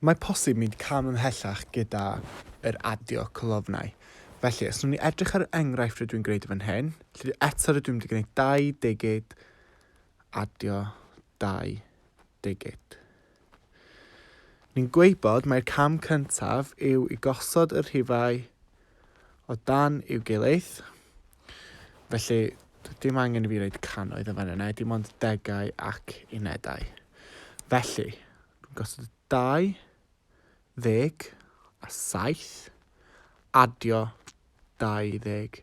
Mae posib mynd cam ymhellach gyda yr adio colofnau. Felly, os nhw'n ni edrych ar yr enghraifft rydw i'n gwneud fan hyn, lle eto rydw i'n mynd i gwneud dau digid, adio dau digid. Ni'n gweud bod mae'r cam cyntaf yw i gosod y rhifau o dan i'w gilydd. Felly, dim angen i fi wneud canoedd yn fan yna, dim ond degau ac unedau. Felly, dwi'n gosod 27 adio 20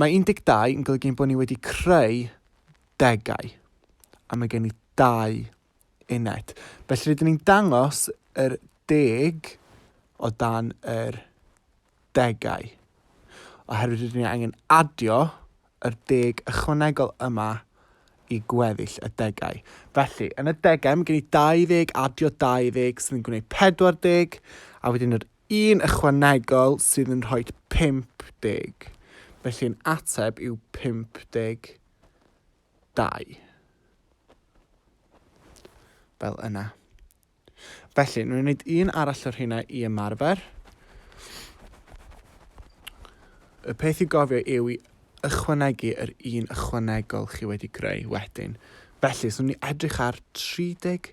Mae 12 yn golygu ein bod ni wedi creu degau, a mae gen i dau uned. Felly rydyn ni'n dangos yr deg o dan yr degau, oherwydd rydyn ni angen adio yr deg ychwanegol yma i gweddill y degau. Felly, yn y degau mae gen i 20 adio 20 sy'n gwneud 40, a wedyn yr Un ychwanegol sydd yn rhoi 50, felly yn ateb yw 52. Fel yna. Felly, ni'n gwneud un arall o'r hynna i ymarfer. Y peth i gofio yw i ychwanegu yr un ychwanegol chi wedi greu wedyn. Felly, swn ni edrych ar 37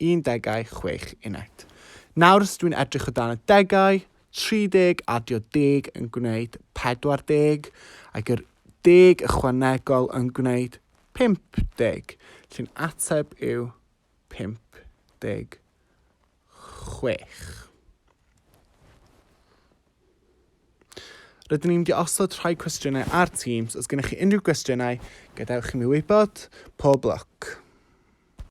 Un degau, chwech uned. Nawr os dwi'n edrych o dan y degau, 30 adio deg yn gwneud 40, ac yr deg ychwanegol yn gwneud 50, llun ateb yw 56. Rydyn ni'n diosod rhai cwestiynau ar Teams. Os gennych chi unrhyw gwestiynau, gadewch i mi wybod. Pob lwc!